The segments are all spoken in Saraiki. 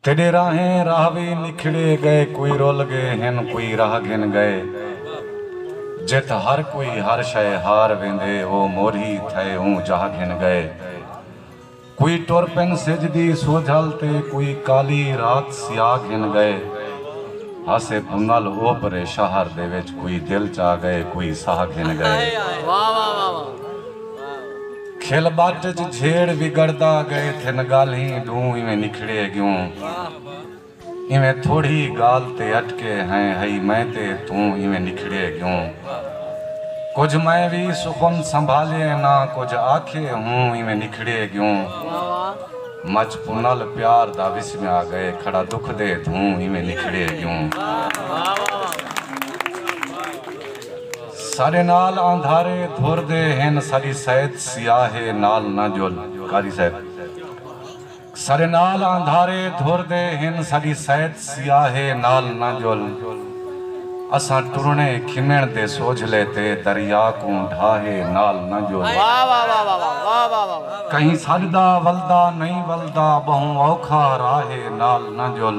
تیݙے راہیں راہ وی نکھڑے ڳئے کوئی رل ڳے ہن کوئی راہ گھن ڳئے جت ہر کوئی ہر شئے ہار ویندے او مورھی تھئے اوں جاہ گھن ڳئے کوئی ٹر پن سجھ دی سوجھل تے کوئی کالی رات سیاہ گھن ڳئے ہاسے بھنل اوپرے شہر دے وچ کوئی دل چا ڳئے کوئی ساہ گھن ڳئے۔ کھل ٻٹ اچ جھیڑ وگڑدا ڳئے تھن ڳالھیں ݙوں ایویں نکھڑے ڳیوں ایویں تھوڑی ڳالھ تے اٹکے ہیں ہئی میں تے توں ایویں نکھڑے ڳیوں کجھ میں وی سخن سنبھالے نہ کجھ آکھے ہوں ایویں نکھڑے ڳیوں مچ پنل پیار دا وسمیا ڳئے کھڑا دکھ دے دھوں ایویں نکھڑے ڳیوں۔ ساڈے نال آندھارے دھر دے ہن ساڈی سیت سیاہ ہے نال نہ جل قاری صاحب ساڈے نال آندھارے دھر دے ہن ساڈی سیت سیاہ ہے نال نہ جل اساں ٹرنے کھمن دے سوجھلے تے دریا کوں ڈھاہے نال نہ جل کہیں ساڈ دا ولدا نہیں ولدا بہوں اوکھا راہے نال نہ جل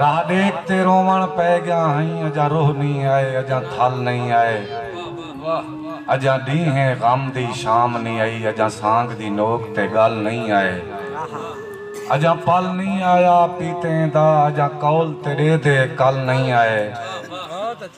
راہ ڈیکھ تے روون پئے گیاں ہئیں اجاں روح نئیں آئے اجاں تھل نئیں آئے اجاں ڈینہیں غم دی شام نئیں آئی اجاں سانگ دی نوک تے گل نئیں آئے اجاں پل نئیں آیا پیتیں دا اجاں قول تیڈے دے کل نئیں آئے۔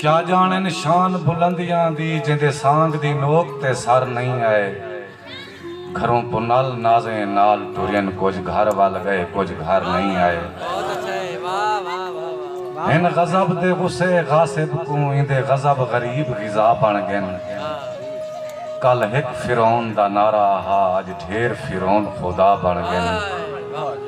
کیا جانن شان بلندیاں دی جیندے سانگ دی نوک تے سر نئیں آئے گھروں پنل نازیں نال ٹرین کجھ گھر ول گئے کجھ گھر نئیں آئے ہن غضب دے غصے غاصب کوں ایندے غضب غریب غذا بن گن کل ہک فرعون دا نعرہ ہا اج ڈھیر فرعون خدا بن گن۔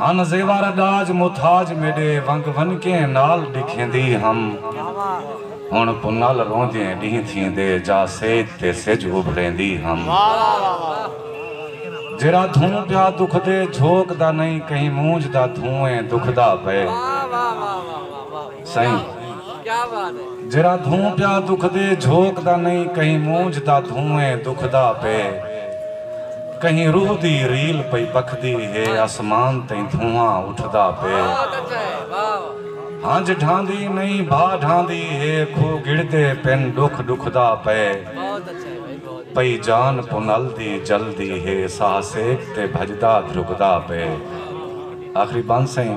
ہن زیور ڈاج متھاج میڈے ونگ ونکیں نال ڈکھیندی ہم ہن پنل روندیں ڈینہہ تھیندے جا سیت تے سج ابھریندی ہم جیرا دھوں پیا دکھدے جھوک دا نئیں کہیں مونجھ دا دھوئیں دکھدا پئے سئیں جیرھا دھوں پیا دکھدے جھوک دا نئیں کہیں مونجھ دا دھوں اے دکھدا پے کہیں روح دی ریل پئی پکھدی ہے اسمان تئیں دھواں اٹھدا پے ہنج ڈھاندی نئیں بھا ڈھاندی ہے کھو گڑدے پن ڈکھ ڈکھدا پے پئی جان پنل دی جلدی ہے ساہ سیک تے بھجدا دھرکدا پے آخری بند سئیں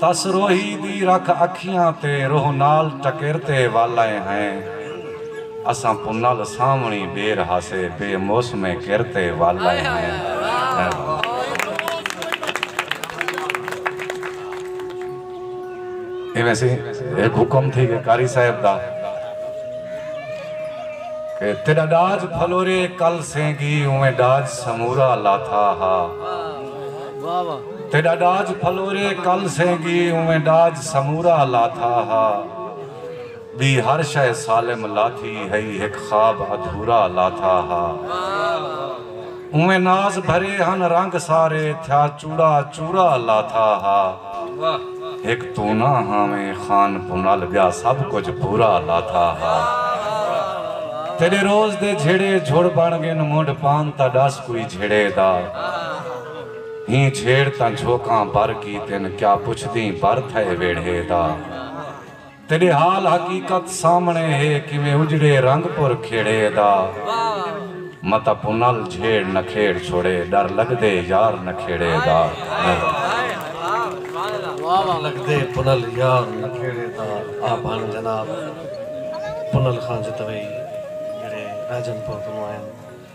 تس روہی دی رکھ اکھیاں تے روہ نال ٹکر تے والئیں ہیں اساں پنل سانوݨی ٻیر ہاسے بے موسمیں کر تے والئیں ہیں۔ ایویں سی ہک حکم تھی گئے قاری صاحب دا کہ تیڈا ڈاج پھلورے کل سینگی اویں ڈاج سمورا لاتھا ہا۔ تیݙا ݙاج پھلورے کل سینگی اونویں ݙاج سمورا لاتھا ہا ٻی ہر شئے سالم لاتھی ہئی ہک خواب ادھورا لاتھا ہا اونویں ناز بھرے ہن رنگ سارے تھیا چوڑا چورا لاتھا ہا ہک توں نہ ہاویں خان پونال ٻیا سب کجھ پورا لاتھا ہا تیݙے روز دے جھیڑے جھڑ بݨ ڳن منڈھ پان تاں ݙس کوئی جھیڑے دا ہی جھیڑ تاں جھوکاں بھر کیتن کیا پچھدیں بھر تھئے ویڑھے دا تیڈے حال حقیقت سامنے ہے کیویں اجڑے رنگ پر کھیڑے دا متہ پنل جھیڑ نہ کھیڑ چھوڑے ڈر لگدے یار نہ کھیڑے دا ڈر لگدے پنل یار نہ کھیڑے دا آپ ہن جناب پنل خان جتوئی جیڑھے راجن پور کنوں آئن۔